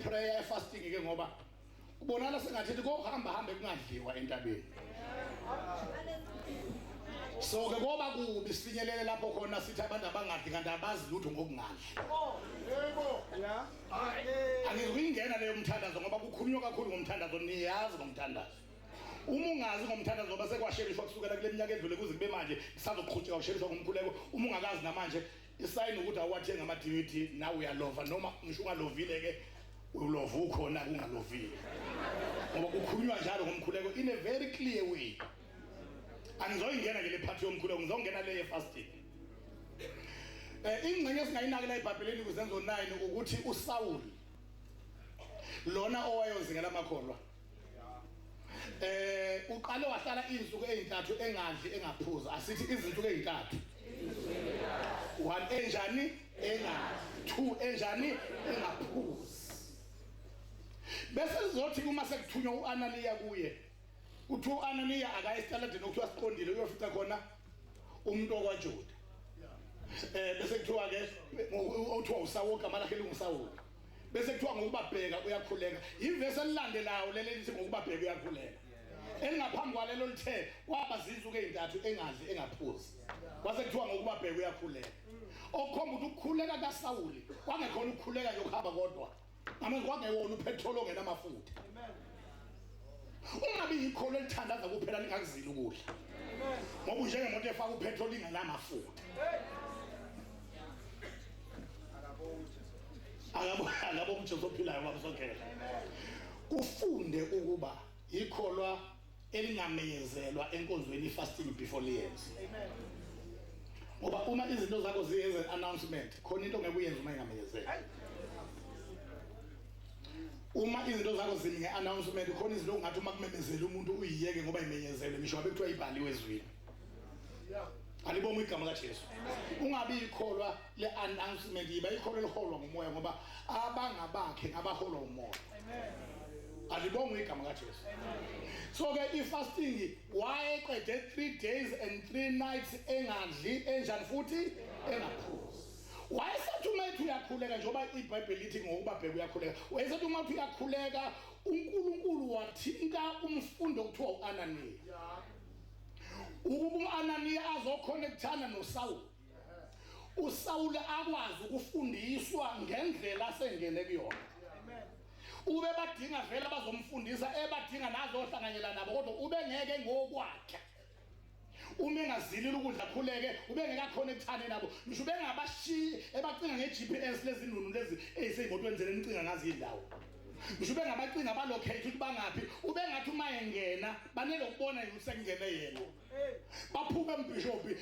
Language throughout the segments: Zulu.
prayer fasting ke ngoba kubonakala sengathi kokuhamba hambe kungadliwa entabeni so ke koba kubi sifinyelele lapho khona sithi abantu abangadli kanti abazi lutho ngokungadli angikuyingena leyo mthandazo ngoba kukhulunywa kakhulu ngomthandazo niyazi ngomthandazo uma ungazi ngomthandazo ngoba sekwasheriswa kusukela kule minyaka edlule kuze kube manje kusazoqhutsheka kusheriswa ngomkhuleko uma ungakazi namanje isayini ukuthi awuwathenga ama-dvd nawe uyalova noma ngisho ungalovile-ke ulova ukhona kungalovile ngoba kukhulunywa njalo ngomkhuleko in a very clear way angizoyingena ke le phathi yomkhuleko ngizongena le ye-fasting um eh, ingxenye esingayinakela ebhabheleni kuzenzo 9 ukuthi usawuli lona owayozingela amakholwa eh uqale wahlala izinsuku ezintathu engadli engaphuza asithi izinsuku ezintathu one enjani engadli two enjani engaphuzi bese lizothi uma sekuthunywa uAnaniya kuye kuthiwa uAnaniya akaye esitaladini okuthiwa siqondile uyofica khona umuntu okwaJuda eh bese kuthiwa ke uthiwa uSawuka malakhe linguSawuka bese kuthiwa ngokubabheka uyakhuleka ivesi elilandelayo leli elithi ngokubabheka uyakhuleka elingaphambi kwalelo lithe kwaba zinsuku ezintathu engadli engaphuzi kwase kuthiwa ngokubabheka uyakhuleka okukhomba ukuthi ukukhuleka kaSawuli kwangekhona ukukhuleka nje ukuhamba kodwa amen kwangewona uphethroli ongena amafutha ungabi yikholo elithandaza kuphela lingakuzili ukudla ngoba unjengemoto efaka uphethroli ingenamafutha angabo umjesu ophilayo babusogela kufunde ukuba yikholwa elingameyezelwa enkonzweni fasting before liyenze ngoba uma izinto zakho ziyenze announcement khona into ngeke uyenze uma ingameyezeli uma izinto zakho zimi nge-announcement khona izinto ongathi uma kumemezela umuntu uyiyeke ngoba imenyezelwe ngisho ngabe kuthiwa ibhaliwe ezwini alibonga igama kajesu ungabi yikholwa le announcement yiba ikholo eliholwa ngumoya ngoba abangabakhe ngabaholwa umoya amen alibonga igama kaJesu so ke ifasting wayeqede 3 days and 3 nights engadli enjani futhi engaphuzi wayesethi uma ethi uyakhuleka njengoba ibhayibheli lithi ngokuba bheka uyakhuleka wayesethi uma uthi uyakhuleka uNkulunkulu wathinta umfundo okuthiwa uAnaniya ukuba uAnaniya azokhona ekuthana noSawulu uSawule akwazi ukufundiswa ngendlela asengene kuyona ube badinga vele abazomfundisa ebadinga nazohlanganyela nabo kodwa ubengeke ngokwakhe uma engazilile ukudla khuleke ubengekakhona ekuthane nabo ngisho ubengabashiyi ebacinga nge-gps lezinunu lezi eyiseyimotweni zele nicinga ngazi indawo ngisho ubengabacinga balocate ukuthi bangaphi ubengathi uma engena banelokubona yini sekungene yena baphume mbishophi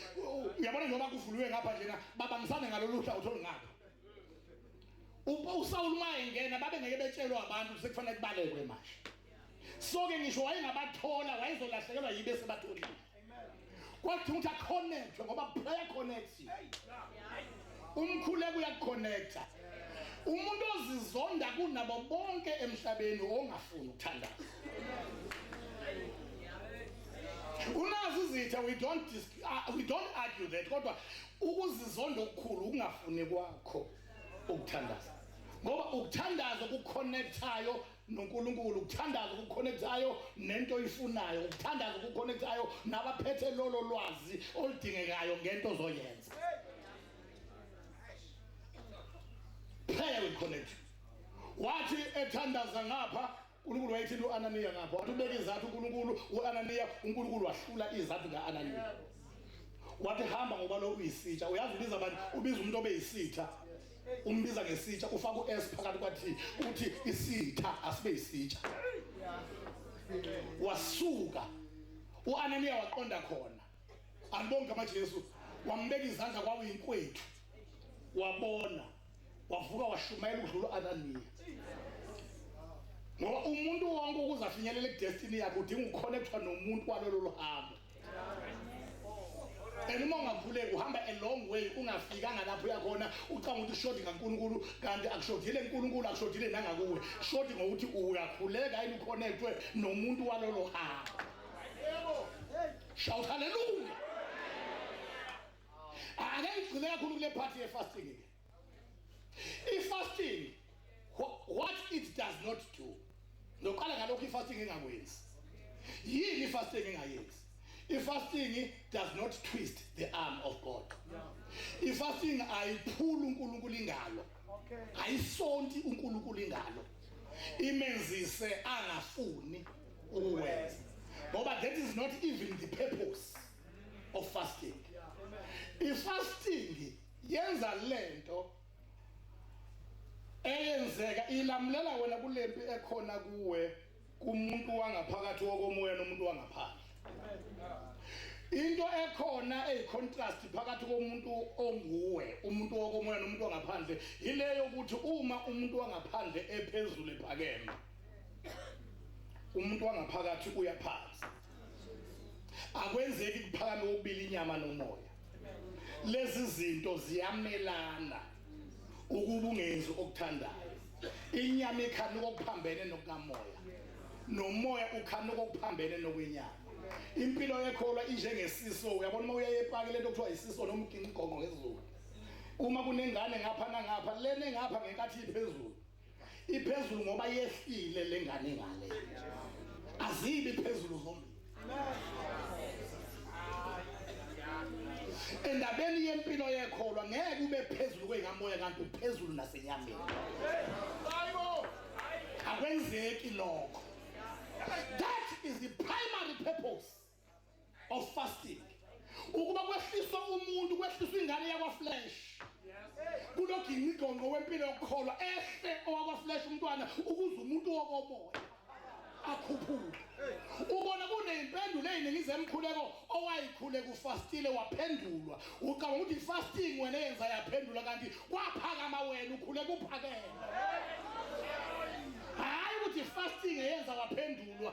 uyabona njengoba kuvuliwe ngapha njena babangisane ngalolu hla utholi ngapha usawulu uma engena babengeke betshelwe abantu sekufanele kubalekwe manje so-ke ngisho wayengabathola wayezolahlekelwa yibe sebatholile kwathi ukuthi aconnectwe ngoba prayer connects you Umkhuleko uyakuconnecta. Umuntu ozizonda kunabo bonke emhlabeni ongafuni ukuthandaza. Unazi izitha we don't uh, we don't argue that kodwa ukuzizonda okukhulu ukungafuni kwakho ukuthandaza. Ngoba ukuthandaza kuconnectayo noNkulunkulu ukuthandaza okukhonektayo nento oyifunayo ukuthandaza okukhonektayo nabaphethe lolo lwazi oludingekayo ngento ozoyenza prayer will connect wathi ethandaza ngapha uNkulunkulu wayethini uAnaniya ngapha wathi ubeke izathu uNkulunkulu uAnaniya uNkulunkulu wahlula izathu kaAnaniya wathi hamba ngoba lo uyisitsha uyazi ubiza abantu ubiza umuntu obeyisitha umbiza ngesitsha ufaka u-s phakathi kwathi uthi isitha asibe isitsha wasuka u-ananiya waqonda khona anibonge amajesu wambeka izandla kwawuyinkwethu wabona wavuka washumayela ukudlula u-ananiya ngoba umuntu wonke ukuze afinyelele kudestiny yakhe udinga ukukhonekthwa nomuntu walolo luhambo and uma ungakhuleki uhamba a long way ungafikanga lapho uyakhona ucanga ukuthi ushodi ngankulunkulu kanti akushodile nkulunkulu akushodile nangakuwe shodi ngokuthi uyakhuleka yini uconnectwe nomuntu walolo hamba shout hallelujah ake ngigcine kakhulu kule party yefasting ke ifasting what it does not do noqala ngalokho ifasting engakwenzi yini ifasting engayenzi ifasting does not twist the arm of god ifasting ayiphula unkulunkulu ingalo ayisonti unkulunkulu ingalo imenzise angafuni ukuwenza ngoba that is not even the purpose of fasting ifasting Yenza lento eyenzeka ilamulela wena kulempi ekhona kuwe kumuntu wangaphakathi wokomoya nomuntu wangaphandle. Into ekhona eyicontrast phakathi komuntu onguwe, umuntu wokomoya nomuntu wangaphandle, ileyo ukuthi uma umuntu wangaphandle ephezulu ephakeme, umuntu wangaphakathi uyaphansi. akwenzeki kuphakame ubili inyama nomoya lezi zinto ziyamelana ukuba ungenzi okuthandayo inyama ikhana kokuphambene nokukamoya nomoya ukhana kokuphambene nokwenyama impilo yekholwa injengesiso uyabona uma uyaye epaki lento kuthiwa isiso noma uginqa igonqo ngezulu uma kunengane ngapha nangapha lene ngapha ngenkathi iphezulu iphezulu ngoba yehlile lengane ngale azibi phezulu zombili endabeni yempilo yekholwa ngeke ube phezulu kweyikamoya kanti uphezulu nasenyameni akwenzeki lokho that is the primary purpose of fasting ukuba kwehliswa umuntu kwehliswa ingane yakwaflesh kunogingqigongqo wempilo yokukholwa ehle owakwaflesh umntwana ukuze umuntu wokomoya akhuphuke ubona kuneyimpendulo eziningi zemkhuleko owayikhule kufastile waphendulwa ucabanga ukuthi fasting wena yenza yaphendula kanti kwaphakama wena ukhule kuphakela ukuthi fasting eyenza waphendulwa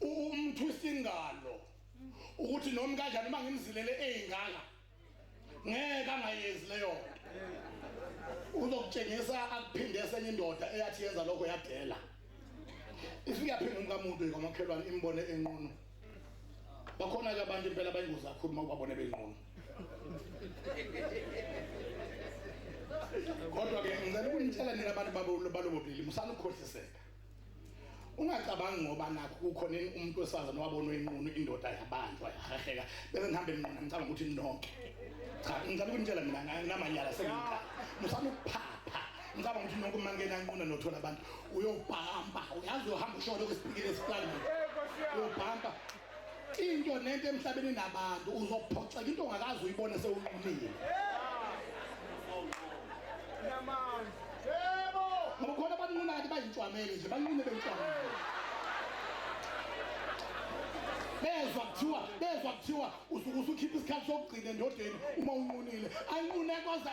umthwisa ingalo ukuthi noma kanjani uma ngimzilele eyingala ngeke angayenzi leyo nto uzokutshengisa akuphinde esenye indoda eyathi yenza lokho yadela ifike yaphinda umkamuntu kwamakhelwane imbone enqunu bakhona-ke abantu impela bayingozi kakhulu uma ubabone benqunu kodwa-ke ngicela ukunitshela nina abantu balobobulili musanukukhohliseka ungacabangi ngoba nakho kukhona umuntu wesifazane wabonwa inqunu indoda yabanjwa yahaheka bese ngihambe nqunu ngicabanga ukuthi nonke cha ngicela ukunitshela mina nginamanyala sengika musana ukuphapha ngicabanga ukuthi nonke uma ngena nquna nothola abantu uyobhamba uyazi uhamba usholo kwesipikile esihlangene uyobhamba Into nento emhlabeni nabantu uzophoxeka into ongakazi uyibone sewunqumile. Namanje. Yebo. Ngoba khona abanquna kanti bayintshwamele nje banqune bentshwamele. bezwa kuthiwa bezwa kuthiwa usuke usukhipha isikhathi sokugcina endodeni uma unqunile ayinqune koze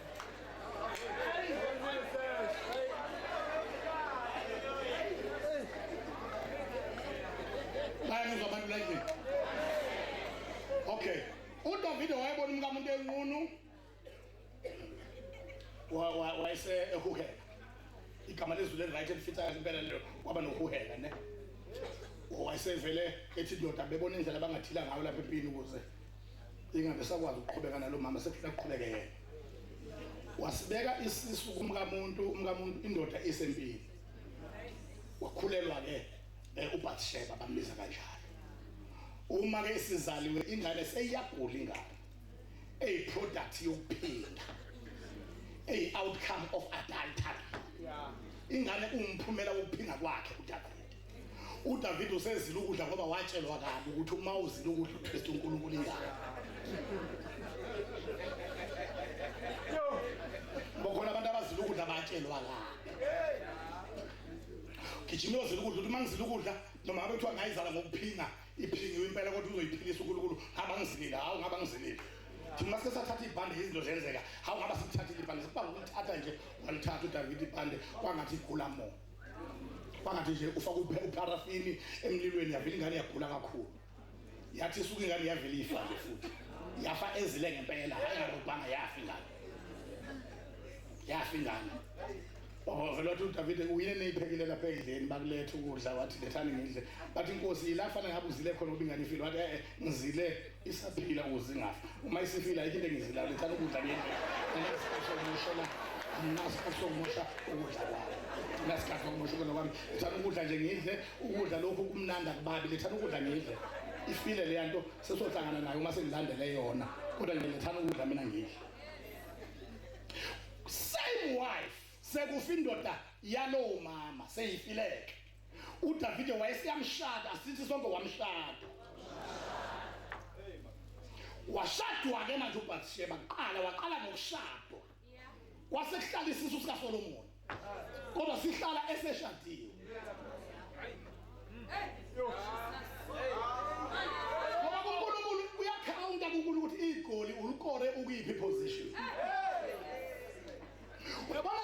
bayamuzwa abantu like okay udavide wayebona umkamuntu enqunu wayese ehuhela igama lezulu eli-right elifitha kahle impela lelo kwaba nohuhela ne wayesevele ethi ndoda bebona indlela abangathila ngayo lapha empini ukuze ingabe sakwazi ukuqhubeka nalo mama sekufuna kuqhubeke yena wasibeka isisu kumkamuntu umkamuntu indoda isempini wakhulelwa ke eh, uBathsheba bambiza kanjalo uma ke sizaliwe ingane seyiyagula ingane eyi product yokuphinda eyi outcome of adultery ingane umphumela wokuphinga kwakhe uDavid uDavid usezile ukudla ngoba watshelwa kabi ukuthi uma uzile ukudla uKristu uNkulunkulu ingane bokhona abantu abazile ukudla batshelwa kabi gijima uyozila ukudla ukuthi uma ngizile ukudla noma ngabe kuthiwa ngayizala ngokuphinga iphingiwe impela kodwa uzoyiphilisa unkulunkulu abangizilile hawu ngabangizilile thina masike sathatha ibhande izinto zenzeka hawu ngaba sikuthathile ibhande sikuba ngokuthatha nje walithatha udavide ibhande kwangathi igula moo kwangathi nje ufaka upharafini emlilweni yavele ingane yagula kakhulu yathi isuke ingane yavele ifa nje futhi yafa ezile ngempela hayi ngarobhanga yafa ingane yafa ingane wavele wathi udavide uyine neyiphekile lapha endleni bakuletha ukudla wathi lethani ngidle bathi inkosi yilafana ngabe uzile khona uba ingane ifile wathi e-e ngizile isaphila ukuze ingafa uma isifila ayikho into engizilala ithanda ukudla ngendlela anasiphosokumoshela nasiphosokumosha ukudla kwami nasikhathi sokumosha ukudla kwami ithanda ukudla nje ngidle ukudla lokhu kumnandi akubabi lithanda ukudla ngidle ifile leya nto sesohlangana nayo uma sengilandele yona kodwa nje ngithanda ukudla mina ngidle same wife sekufa indoda yalowo mama seyifileke uDavide wayeseyamshada sithi sonke wamshada washadwa-ke manje ubathisheba kuqala waqala ngokushadwa kwasekuhlala isisu sikasolomoni kodwa sihlala eseshadiwe ngoba kunkulunkulu uyakhawunta kunkulunkulu ukuthi igoli ulikore ukuyiphi position uyabona